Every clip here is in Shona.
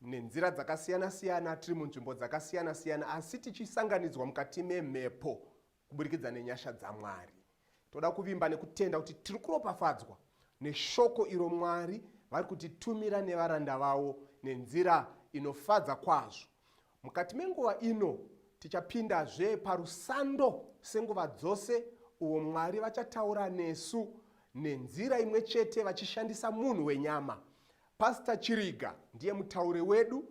nenzira dzakasiyana-siyana tiri munzvimbo dzakasiyana-siyana asi tichisanganidzwa mukati memhepo kuburikidza nenyasha dzamwari toda kuvimba nekutenda kuti tiri kuropafadzwa neshoko iro mwari vari kutitumira nevaranda vavo nenzira inofadza kwazvo Mukati menguva ino, tichapindazve parusando senguva dzose uwo Mwari vachataura nesu nenzira imwe chete vachishandisa munhu wenyama. Pastor Chiriga ndiye mutauri wedu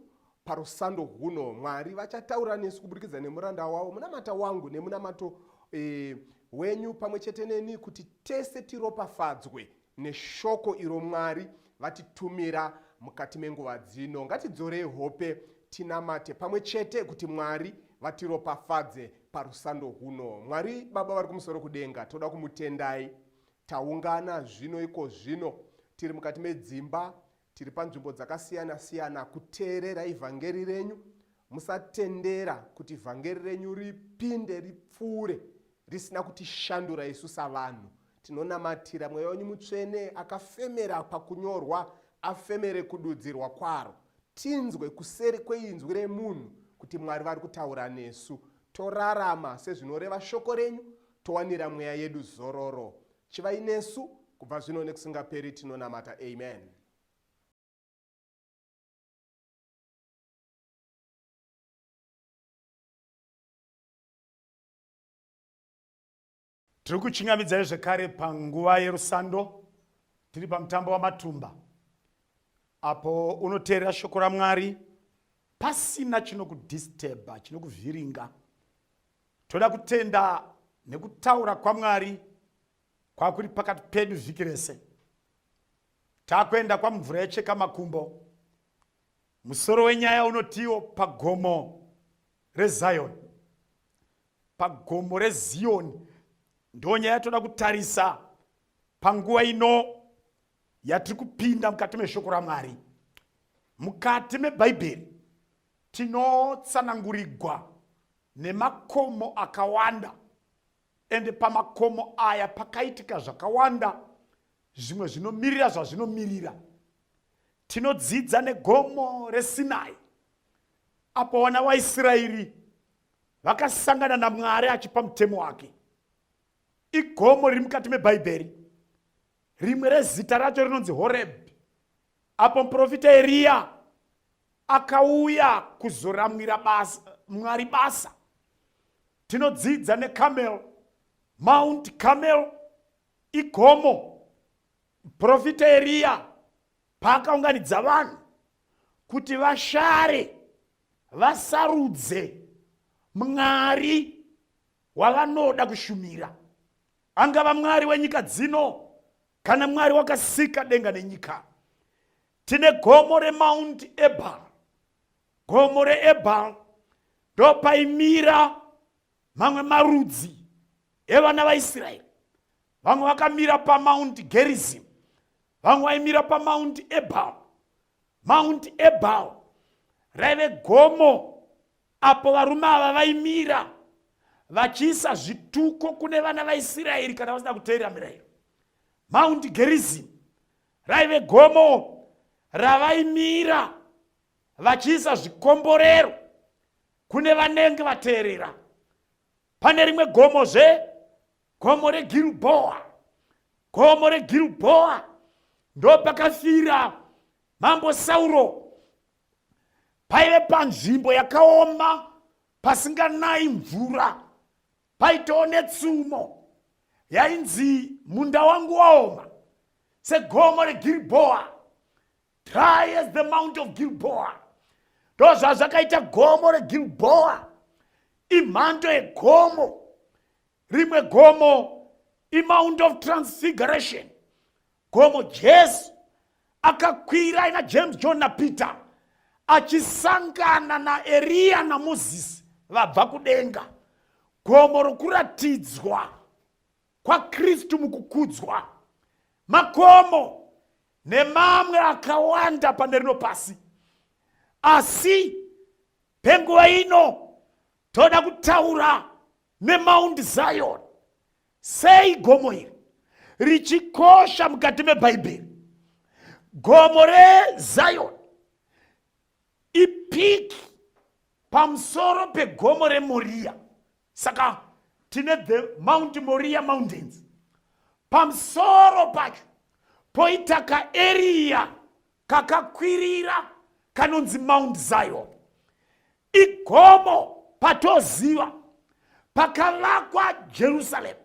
parusando huno. Mwari vachataura nesu kuburikidza nemuranda wavo munamata wangu nemunamato e, wenyu pamwe chete neni kuti tese tiropafadzwe Neshoko iro Mwari vatitumira mukati menguva dzino, ngatidzorei hope tinamate pamwe chete kuti Mwari vatiropafadze parusando rwuno. Mwari Baba vari kumusoro kudenga, toda kumutendai. Taungana zvino iko zvino tiri mukati medzimba Tiri panzvimbo dzakasiyana siyana kuteerera ivhangeri renyu. Musatendera kuti vhangeri renyu ripinde ripfuure risina kutishandura isu savanhu. Tinonamatira mweya wenyu mutsvene akafemera pakunyorwa afemere kududzirwa kwaro. Tinzwe kuseri kweinzwi remunhu kuti Mwari vari kutaura nesu. Torarama sezvinoreva shoko renyu, towanira mweya yedu zororo. Chivai nesu kubva zvino nekusingaperi tinonamata amen. tiri kuchingamidzai zvekare panguva yerusando tiri pamutambo wamatumba apo unoteerera shoko ramwari pasina chinokudistebha chinokuvhiringa Toda kutenda nekutaura kwaMwari kwakuri pakati pedu vhiki rese. Takuenda kwamvura yecheka makumbo. Musoro wenyaya unotiwo pagomo reZion. Pagomo reZion ndo nyaya toda kutarisa panguva ino yatiri kupinda mukati meshoko raMwari. Mukati meBhaibheri tinotsanangurigwa nemakomo akawanda ende pamakomo aya pakaitika zvakawanda zvimwe zvinomirira zvazvinomirira tinodzidza negomo resinai apo vana vaisraeri vakasangana namwari achipa mutemo wake igomo riri mukati mebhaibheri rimwe rezita racho rinonzi horebhi Apo muprofita Eriya akauya kuzoramwira basa, Mwari basa, tinodzidza neCarmel, Mount Carmel igomo. Muprofita Eriya paakaunganidza vanhu kuti vashare vasarudze Mwari wavanoda kushumira, angava Mwari wenyika dzino Kana Mwari wakasika denga nenyika, tine gomo remount ebal gomo reebal ndopaimira mamwe marudzi evana vaisraeri vamwe vakamira pamount gerizim vamwe vaimira pamount ebal mount ebal raive gomo Apo varume ava vaimira vachiisa zvituko kune vana vaIsiraeri kana vasina kuteerera mirayiro, Mount Gerizim raive gomo ravaimira vachiisa zvikomborero kune vanenge vateerera. Pane rimwe gomo zve gomo reGilboa, gomo reGilboa ndopakafira mambo Sauro paive panzvimbo yakaoma pasinganayi mvura paitawo netsumo yainzi munda wangu waoma segomo regiribhoa dry as the mount of gilboa ndo zvazvakaita gomo regilboa imhando yegomo rimwe gomo imount of transfiguration Gomo Jesu akakwira ina James, John na Peter achisangana na Eria na Moses vabva kudenga. Gomo rokuratidzwa kwaKristu mukukudzwa. Makomo nemamwe akawanda pane rino pasi. Asi penguva ino toda kutaura neMount Zion Sei gomo iri richikosha mukati meBhaibheri? Gomo reZion ipiki pamusoro pegomo reMoriya. Saka tine the Mount Moriya Mountains. Pamusoro pacho poita kaeriya kakakwirira kanonzi Mount Zion. igomo patoziva pakavakwa jerusaremu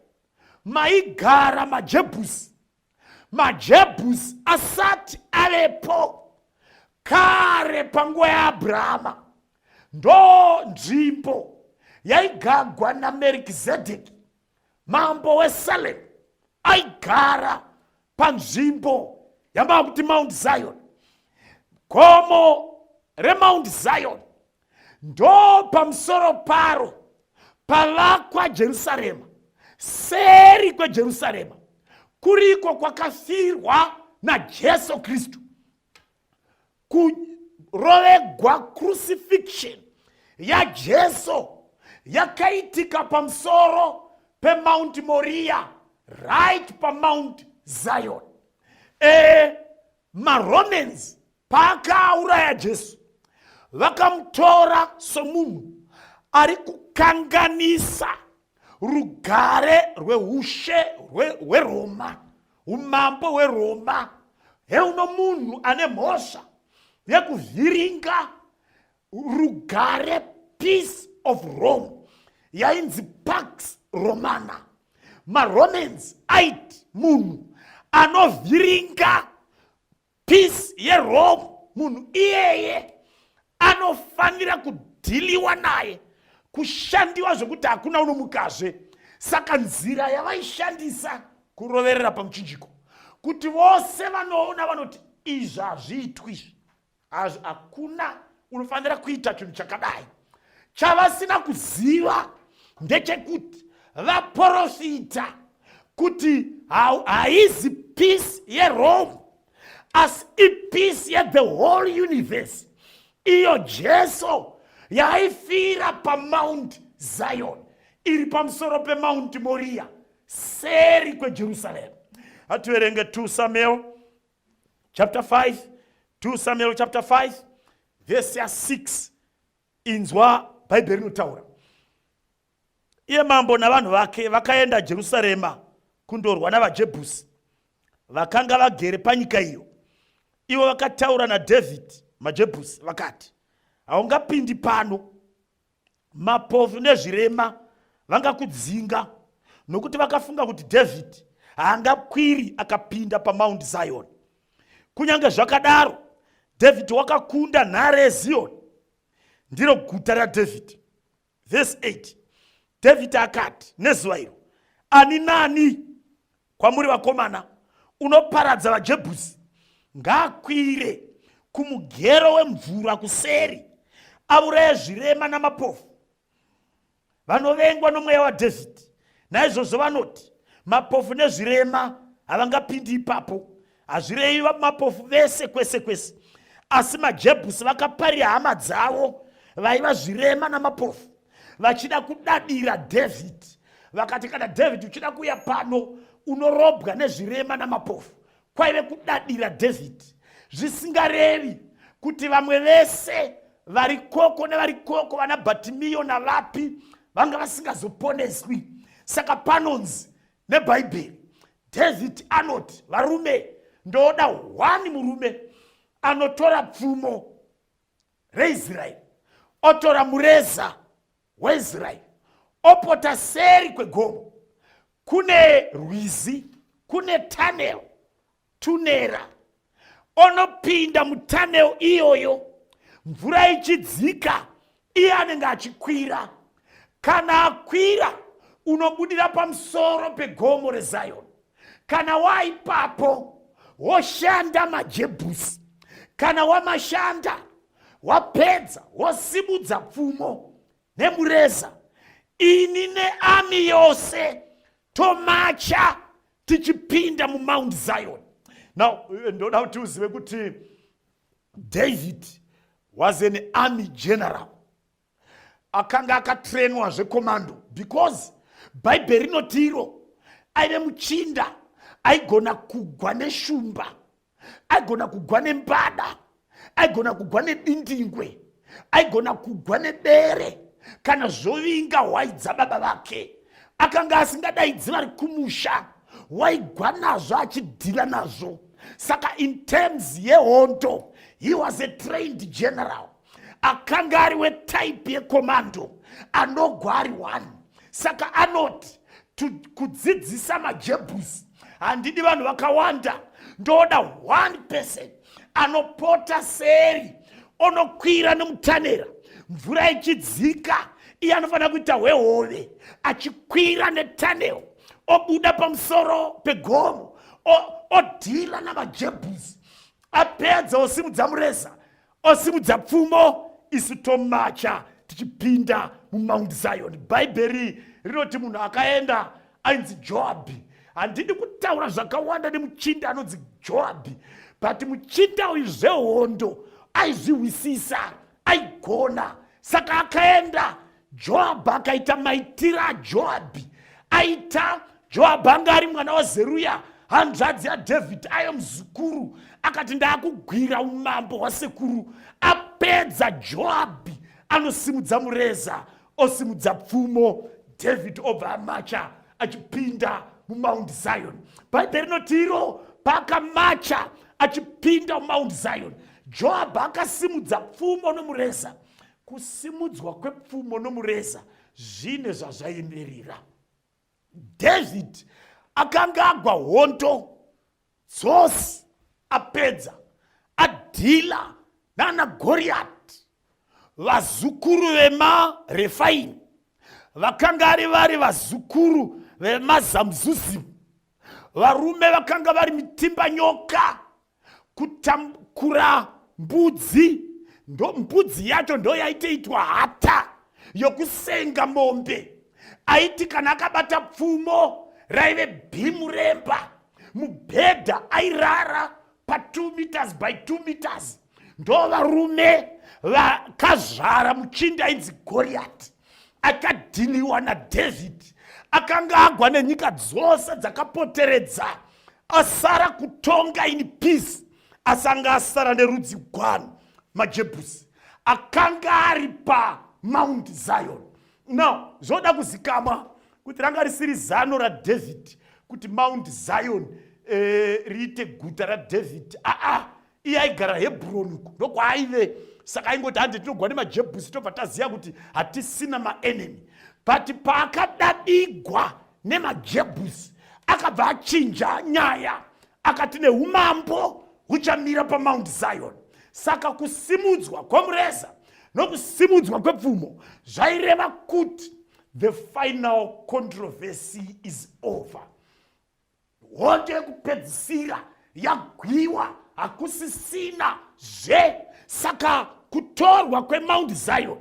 maigara majebhusi majebhusi asati avepo kare panguva yaabrahama ndo nzvimbo yaigagwa namerikizedheki mambo wesalem aigara panzvimbo yamava kuti mount zion gomo remount zion ndo pamusoro paro pavakwa jerusarema seri kwejerusarema kuriko kwakafirwa najesu kristu kurovegwa crucifixion yajesu yakaitika pamusoro pemount moria right pamount zion e, maromans paakauraya jesu vakamutora somunhu ari kukanganisa rugare rweushe hweroma umambo hweroma heuno munhu ane mhosva yekuvhiringa rugare peace of rome yainzi pax romana maromans aiti munhu anovhiringa peace yerome munhu iyeye anofanira kudhiliwa naye kushandiwa zvekuti hakuna unomukazve saka nzira yavaishandisa kuroverera pamuchinjiko kuti vose vanoona vanoti izvi hazviitwi izvi hazvi hakuna unofanira kuita chinhu chakadai chavasina kuziva ndechekuti vaprofita kuti haizi peace yerome asi ipeace yethe whole universe iyo jesu yaifira pamount zion iri pamusoro pemount moriya seri kwejerusarema hativerenge 2 samuel chapter 5 2 samuel chapter 5 vhesi ya6 inzwa bhaibheri rinotaura iye mambo navanhu vake vakaenda jerusarema kundorwa navajebhusi vakanga vagere panyika iyo ivo vakataura nadhavhidhi majebhusi vakati haungapindi pano mapofu nezvirema vangakudzinga nokuti vakafunga kuti dhavhidhi haangakwiri akapinda pamaundi ziyoni kunyange zvakadaro dhavhidhi wakakunda nhare yeziyoni ndiro guta radhavhidhi vhesi 8 dhavhidhi akati nezuva iro ani nani kwamuri vakomana unoparadza vajebhusi ngaakwire kumugero wemvura kuseri avuraya zvirema namapofu vanovengwa nomweya wadhavhidhi naizvozvo vanoti mapofu nezvirema havangapindi ipapo hazvirevi vamapofu vese kwese kwese asi majebhusi vakaparira hama dzavo vaiva zvirema namapofu vachida kudadira david vakati kana david uchida kuuya pano unorobwa nezvirema namapofu kwaive kudadira david zvisingarevi kuti vamwe vese vari koko nevari koko vana batimiyo navapi vanga vasingazoponeswi saka panonzi nebhaibheri david anoti varume ndoda hwani murume anotora pfumo reisraeri otora mureza weisraeri opota seri kwegomo kune rwizi kune tanel tunera onopinda mutanel iyoyo mvura ichidzika iye anenge achikwira kana akwira unobudira pamusoro pegomo rezayoni kana waipapo woshanda majebhusi kana wamashanda wapedza wosimudza pfumo nemureza ini neami yose tomacha tichipinda mumount zion now eh, ndoda kuti uzive kuti david was an army general akanga akatrenwa zvekomando because bhaibheri rinoti iro aive muchinda aigona kugwa neshumba aigona kugwa nembada aigona kugwa nedindingwe aigona kugwa nebere kana zvovinga hwai dzababa vake akanga asingadaidzi vari kumusha waigwa nazvo achidhila nazvo saka in terms yehondo he was a trained general akanga ari wetype yekomando anogwa ari one saka anoti kudzidzisa majebus handidi vanhu vakawanda ndoda one person anopota seri onokwira nemutanera mvura ichidzika iye anofanira kuita hwehove achikwira netanel obuda pamusoro pegomo odhila namajebus apedza osimudza mureza Osimudza pfumo isu tomacha tichipinda mumount zion bhaibheri rinoti munhu akaenda ainzi joabhi handidi kutaura zvakawanda nemuchinda anonzi joabhi but muchinda uyu zvehondo aizvihwisisa aigona saka akaenda joabhi akaita maitiro ajoabhi aita joabhi anga ari mwana wazeruya hanzvadzi yadhavhidhi ayo muzukuru akati ndaakugwira umambo hwasekuru apedza joabhi anosimudza mureza osimudza pfumo dhavhidhi obva amacha achipinda mumount zion bhaibheri rinoti iro paakamacha achipinda mumount zion joabhi akasimudza pfumo nomureza Kusimudzwa kwepfumo nomureza zvine zvazvaimirira. David akanga agwa hondo dzose apedza adhila nana goriyati vazukuru vemarefaimi vakanga ari vari vazukuru vemazamuzuzimu varume vakanga vari mitimba nyoka kutakura mbudzi ndo mbudzi yacho ndo yaitoitwa hata yokusenga mombe aiti kana akabata pfumo raive bhimu remba mubhedha airara pa2 meters by 2 meters ndo varume vakazvara muchinda ainzi goriyati akadhiniwa nadhavhidhi akanga agwa nenyika dzose dzakapoteredza asara kutonga in peace asi anga asara nerudzi gwani majebhusi akanga ari pamount zion now zvoda kuzikamwa kuti ranga risiri zano radhavhidhi kuti mount zion eh, riite guta radhavhidhi aa iye aigara hebroni uku ndokwaaive saka aingoti hande tinogwa nemajebhusi tobva taziva kuti hatisina maenemy but paakadadigwa nemajebhusi akabva achinja nyaya akati neumambo huchamira pamount zion saka kusimudzwa kwomureza nokusimudzwa kwepfumo zvaireva kuti the final controversy is over hondo yekupedzisira yagwiwa hakusisina zve saka kutorwa kwemount zion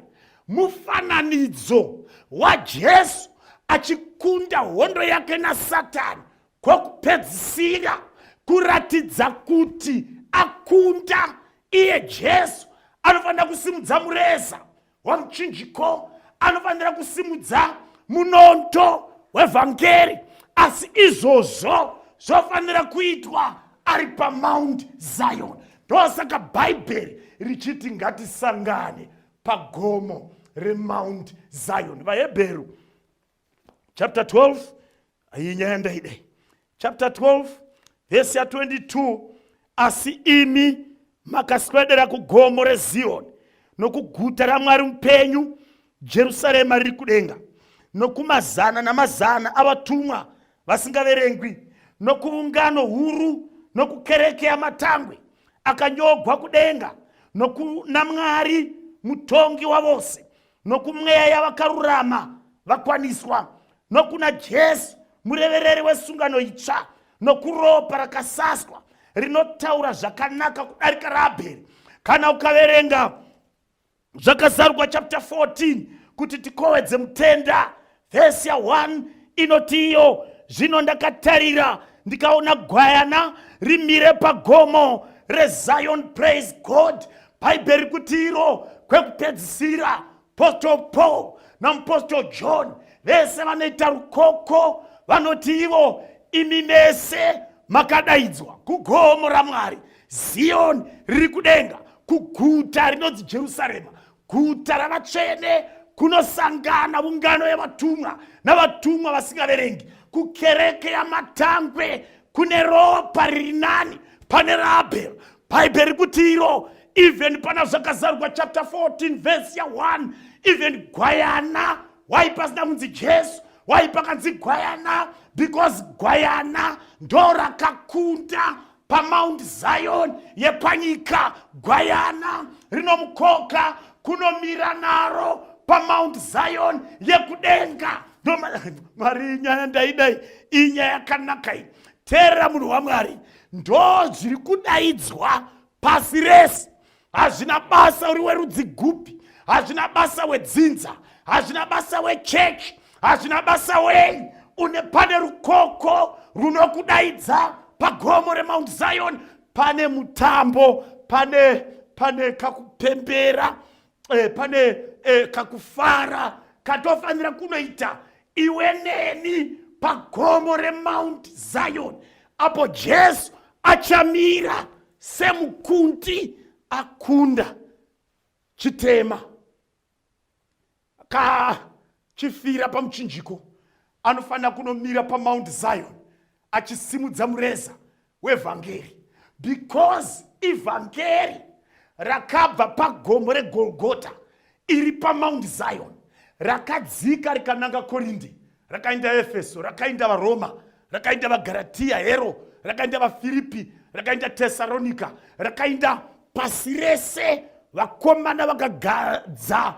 mufananidzo wajesu achikunda hondo yake nasatani kwokupedzisira kuratidza kuti akunda iye jesu anofanira kusimudza mureza wamuchinjiko anofanira kusimudza munondo wevhangeri asi izvozvo zvofanira kuitwa ari pamount zion ndosaka bhaibheri richiti ngatisangane pagomo remount zion vahebheru chapter 12 iyi nyaya ndaidai chapter 12 vhesi ya22 asi imi makaswedera kugomo reziyoni nokuguta ramwari mupenyu jerusarema riri kudenga nokumazana namazana avatumwa vasingaverengwi nokuungano huru nokukereke yamatangwe akanyogwa kudenga nokunamwari mutongi wavose nokumweya yavakarurama vakwaniswa nokuna jesu murevereri wesungano itsva nokuropa rakasaswa rinotaura zvakanaka kudarika raabheri kana ukaverenga zvakazarurwa chapter 14 kuti tikowedze mutenda vhesi ya 1 inoti iyo zvino ndakatarira ndikaona gwayana rimire pagomo rezion praise god bhaibheri kuti iro kwekupedzisira postal paul namupostal john vese vanoita rukoko vanoti ivo imi mese makadaidzwa kugomo ramwari ziyoni riri kudenga kuguta rinonzi jerusarema Guta ravatsvene kunosangana ungano yevatumwa navatumwa vasingaverengi kukereke yamatangwe kune ropa riri nani pane raabheri bhaibheri kuti iro even pana zvakazarurwa chapter 14 vhesi ya 1 even gwayana wai pasina kunzi jesu wai pakanzi gwayana because gwayana ndo rakakunda pamount zion yepanyika gwayana rinomukoka kunomira naro pamount zion yekudenga mwari nyaya ndaidai iyi nyaya yakanaka iyi teerera munhu wamwari ndo zviri kudaidzwa pasi rese hazvina basa uri werudzi gupi hazvina basa wedzinza hazvina basa wechechi hazvina basa wei une pane rukoko runokudaidza pagomo remount zion pane mutambo pane pane kakupembera eh, pane eh, kakufara katofanira kunoita iwe neni pagomo remount zion apo jesu achamira semukundi akunda chitema ka chifira pamuchinjiko anofanira kunomira pamount zion achisimudza mureza wevhangeri because ivhangeri rakabva pagomo regolgota iri pamoundi zion rakadzika rikananga korindi rakaenda efeso rakaenda varoma rakaenda vagaratiya hero rakaenda vafiripi rakaenda tesaronika rakaenda pasi rese vakomana vakagadza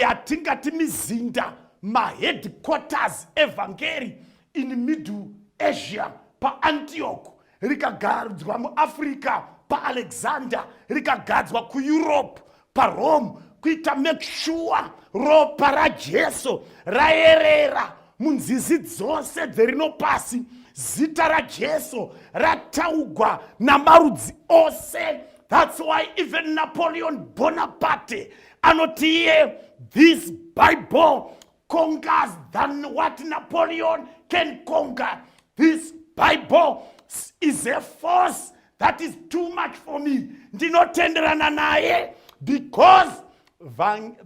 yatingati mizinda maheadquarters evhangeri in middle asia paantioch rikagadzwa muafrica paalexander rikagadzwa kueurope parome kuita make sure ropa rajesu rayerera munzizi dzose dzerino pasi zita rajesu rataugwa namarudzi ose thats why even napoleon bonaparte anoti iye this bible conquers than what Napoleon can conquer. This Bible is a force that is too much for me. Ndinotenderana naye because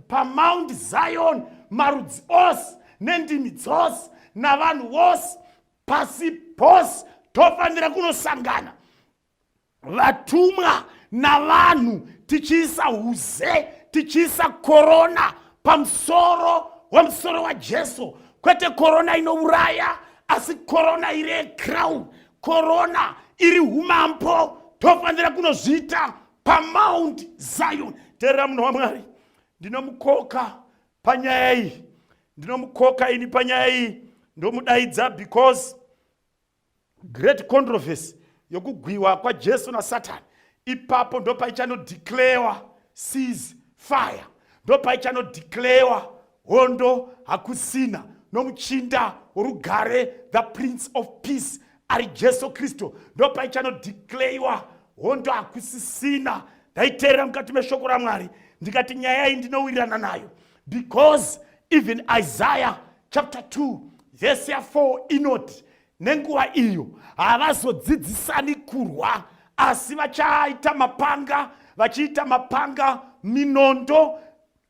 paMount Zion marudzi ose nendimi dzose navanhu vose pasi pose tofanira kunosangana vatumwa navanhu tichiisa uze tichiisa korona pamusoro wemusoro wajesu kwete korona inouraya asi korona iri yecrown korona iri umambo tofanira kunozviita pamount zion teerera munhu wamwari ndinomukoka panyaya iyi ndinomukoka ini panyaya iyi ndomudaidza because Great controversy yokugwiwa kwaJesu naSatan ipapo ndopaichanodeclarewa seas fire ndopaichanodeclarewa hondo hakusina nomuchinda worugare the prince of peace ari jesu kristu ndopaichanodeclarewa hondo hakusisina ndaiteerera mukati meshoko ramwari ndikati nyaya iyi ndinowirirana nayo because even isaiah chapter 2 vhesi ya4 inoti nenguva iyo havazodzidzisani kurwa asi vachaita mapanga vachiita mapanga minondo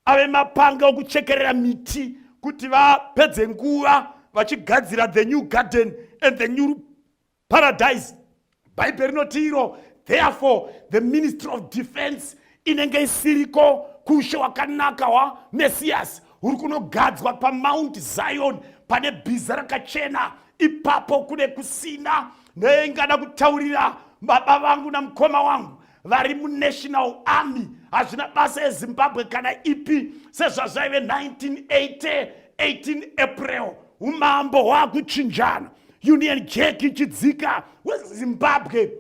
ave mapanga okuchekerera miti kuti vapedze nguva vachigadzira the new garden and the new paradise bhaibheri rinoti iro therefore the ministry of defense inenge isiriko kushe wakanaka wamesiyasi uri kunogadzwa pamount zion pane bhiza rakachena ipapo kune kusina neingada kutaurira baba vangu namukoma wangu vari munational army hazvina basa ezimbabwe kana ipi sezvazvaive 1980 18 april umambo hwakuchinjana union jack ichidzika wezimbabwe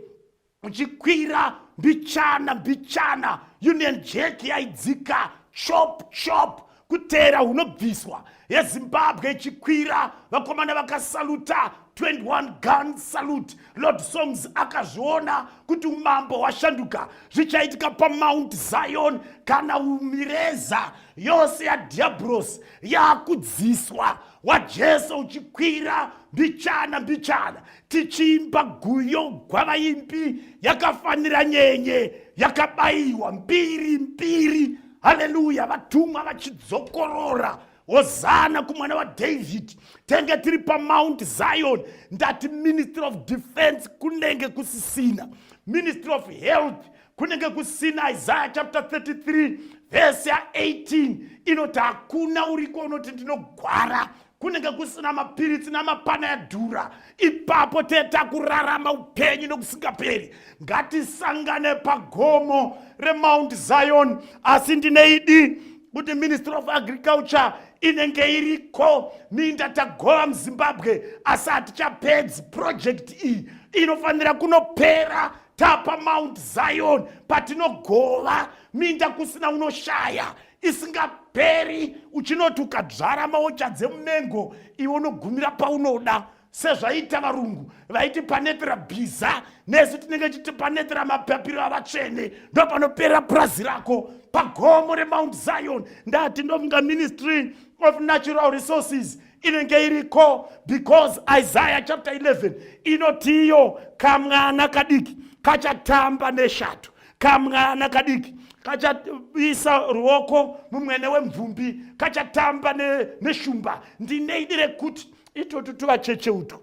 uchikwira mbichana mbichana union jack yaidzika chop chop kuteera hunobviswa yezimbabwe ichikwira vakomana vakasaluta 21 gun salute lord songs akazviona kuti umambo hwashanduka zvichaitika pamount zion kana umireza yose yadhiabros yakudziswa wajesu uchikwira mbichana mbichana tichiimba guyo gwavaimbi yakafanira nyenye yakabayiwa mbiri mbiri haleluya vatumwa vachidzokorora hozana kumwana wadhavhidhi tenge tiri pamount zion ndati ministry of defense kunenge kusisina ministry of health kunenge kusina isaya chapter 33 vhesi ya18 inoti hakuna uriko unoti ndinogwara kunenge kusina mapiritsi namapana yadhura ipapo teta kurarama upenyu nokusingaperi ngatisangane pagomo remount zion asi ndine idi kuti ministry of agriculture inenge iriko minda tagova muzimbabwe asi hatichapedzi purojekti iyi inofanira kunopera tapa mount zion patinogova minda kusina unoshaya isingaperi uchinoti ukadzvara maocha dzemumengo iwe unogumira paunoda sezvaiita varungu vaiti panetera bhiza nesu tinenge chiti panetera mapapiro avatsvene ndo panopera purazi rako pagomo remount zion ndati ndofunga ministry of natural resources inenge iriko because isaya chapter 11 inotiyo kamwana kadiki kachatamba neshato kamwana kadiki kachaisa ruoko mumwene wemvumbi kachatamba neshumba ne ndine idi rekuti itotu tuvacheche utwo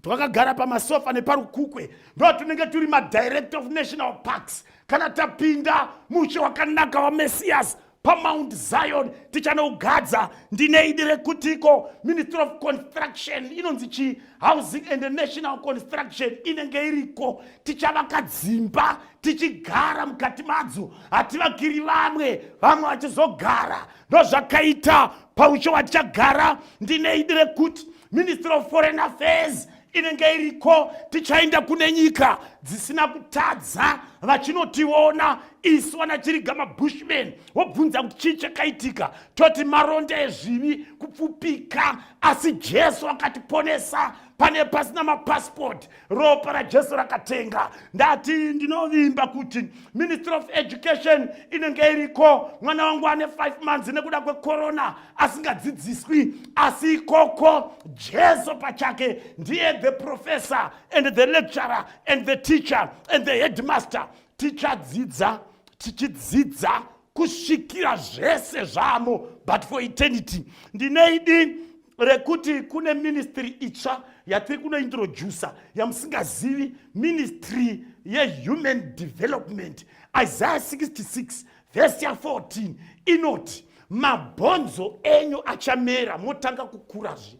twakagara pamasofa neparukukwe ndo tunenge turi madirector of national parks kana tapinda mushe wakanaka wamessias pamount zion tichanogadza ndine idi rekutiko ministry of construction inonzi chi housing and national construction inenge iriko tichavaka dzimba tichigara mukati madzo hativakiri vamwe vamwe vachizogara ndozvakaita paucho watichagara ndine idi rekuti ministry of foreign affairs inenge iriko tichaenda kune nyika dzisina kutadza vachinotiona isu vana chiriga mabushman wobvunza kuti chii chakaitika toti maronda ezvivi kupfupika asi jesu akatiponesa pane pasina mapasipoti ropa rajesu rakatenga ndati ndinovimba kuti ministry of education inenge iriko mwana wangu ane 5 months nekuda kwekorona asingadzidziswi asi ikoko jesu pachake ndiye the professor and the lecturer and the teacher and the headmaster tichadzidza tichidzidza kusvikira zvese zvamo but for eternity ndine idi rekuti kune ministry itsva yatiri kunointroducer yamusingazivi ministry yehuman development isaiah 66 vhesi ya14 inoti mabhonzo enyu achamera motanga kukurazve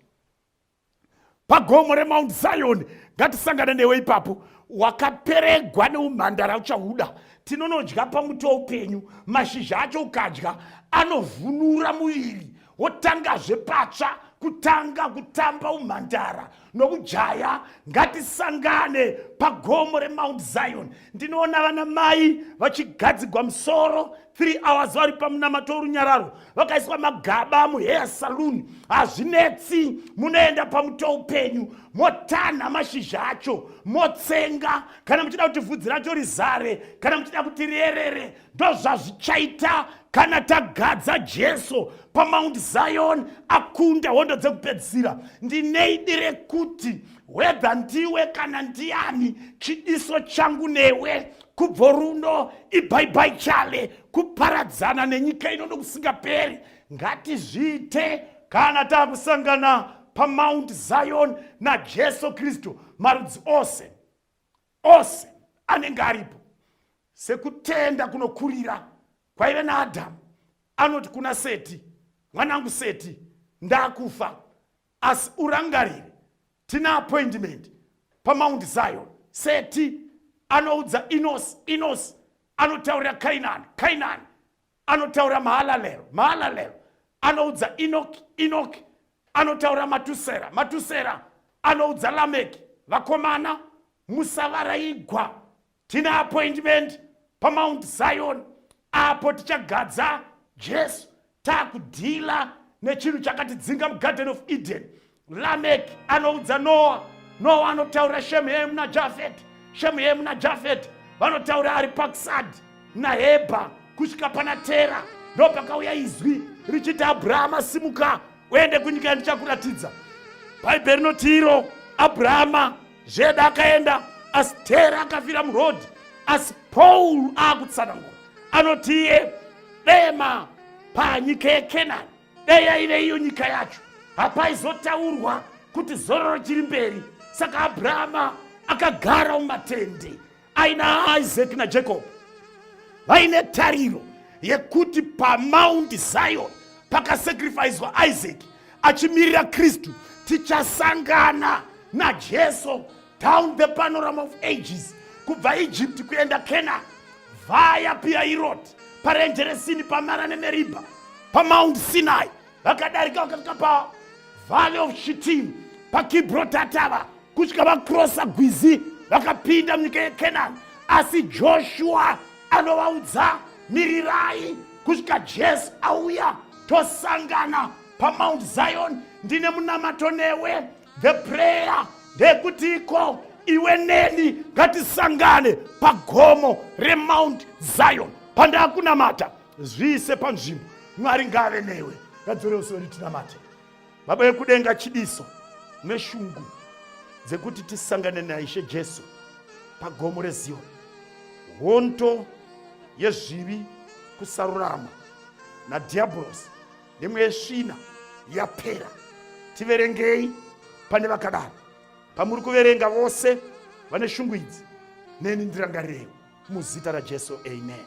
pagomo remount zion ngatisangane newe ipapo wakaperegwa neumhandara uchahuda tinonodya pamuti weupenyu mashizha acho ukadya anovhunura muviri wotangazve patsva kutanga kutamba umhandara nokujaya ngatisangane pagomo remount zion ndinoona vana mai vachigadzigwa musoro 3 hours vari pamunamato worunyararo vakaiswa magaba muheya saloon hazvinetsi munoenda pamuto upenyu motanha mashizha acho motsenga kana muchida kuti vhudzi racho rizare kana muchida kuti rierere ndozvazvichaita kana tagadza jesu pamount zion akunda hondo dzekupedzisira ndineidi rekuti hwedha ndiwe kana ndiani chidiso changu newe kubvo runo ibhaibai chale kuparadzana nenyika ino nokusingaperi ngatizviite kana takusangana pamount zion najesu kristu marudzi ose ose anenge aripo sekutenda kunokurira kwaive naadhamu anoti kuna seti mwanangu seti ndakufa asi urangarire tina appointment pamount zion seti anoudza inos inos anotaurira kainani kainani anotaura mahalalero mahalalero anoudza inoki inoki anotaura matusera matusera anoudza lameki vakomana musavaraigwa tine appointment pamount zion apo tichagadza jesu takudhila nechinhu chakatidzinga mugarden of eden Lameki anoudza Noa, Noa anotaura Shemu, Hemu naJafeti, Shemu, Hemu naJafeti vanotaura ari pakusadi nahebha kusvika pana tera ndo pakauya izwi richiti abrahama simuka uende kunyika yandichakuratidza bhaibheri rinoti iro abrahama zveda akaenda asi tera akafira murodhi asi paul aakutsanangura anoti iye dema panyika yekenani dai yaive iyo nyika yacho hapaizotaurwa kuti zororo chiri mberi saka abrahama akagara mumatende aina isaac najacob vaine tariro yekuti pamaundi zion pakasakrifiswa isaac achimirira kristu tichasangana najesu down the panorama of ages kubva egypt kuenda canaan vaya piairot parenje resini pamara nemeribha pamount sinai vakadarika vakasvika pavalley of shitim pakibrotatava kusvika vakrosa gwizi vakapinda munyika yecanaan asi joshua anovaudza mirirai kusvika jesu auya tosangana pamount zion ndine munamato newe the prayer ndeyekutiiko iwe neni ngatisangane pagomo remount zion pandakunamata zviise panzvimbo mwari ngave newe ngadzore usori tinamate baba vekudenga chidiso neshungu dzekuti tisangane naishe jesu pagomo rezion honto yezvivi kusarurama nadhiabhorosi nemweya yesvina yapera tiverengei pane vakadaro pamuri kuverenga vose vane shungu idzi neni ndirangarirei muzita rajesu amen